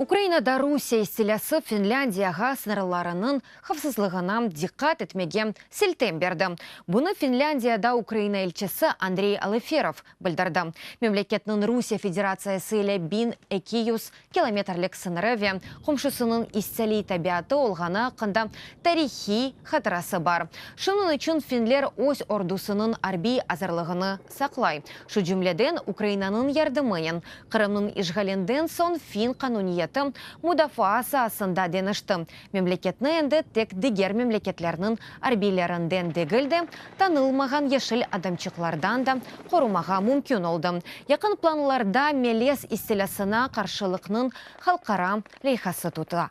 Ukrainada Rusiye istilâsı Finlândiyağa sıñırlarınıñ havfsızlığına diqqat etmege siltem berdi. Bunı Finlândiyada Ukraina elçisi Andrey Aleferov bildirdi. Memleketniñ Rusiye Federatsiyası ile biñ eki yüz kilometrlik sıñırı ve qomşusınıñ isteliy tabiatı olğanı aqqında tarihiy hatırası bar. Şunıñ içün finler öz ordusınıñ arbiy azırlığını saqlay, şu cümleden Ukrainanıñ yardımınen. Qırımnıñ işğalinden soñ fin qanuniyeti mudafaa saasında deñişti, Memleketni endi tek diger memleketlerniñ arbiylerinden degil de, tanılmağan yeşil adamçıqlardan da qorumağa mümkün oldı. Yaqın planlarda melez istilâsına qarşılıqnıñ halqara leyhası tutula.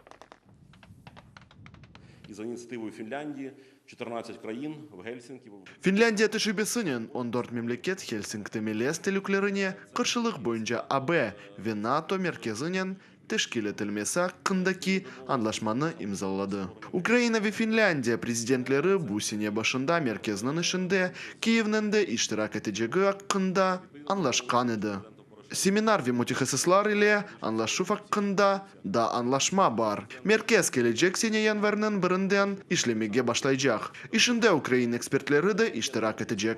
Finlândiya tecrübesinen on dört memleket Helsinkide melez telüklerine qarşılıq boyunca AB ve NATO merkezinen teşkil etilmesi aqqındaki añlaşmanı imzaladı. Ukraina ve Finlândiya prezidentleri bu sene başında merkezniñ işinde Kiyevniñ de iştirak etecegi aqqında añlaşqan edi. Seminar ve mütehassıslar ile añlaşuv aqqında da añlaşma bar. Merkez kelecek sene yanvarnıñ birinden işlemege başlaycaq. İşinde ukrain ekspertleri de iştirak etecek.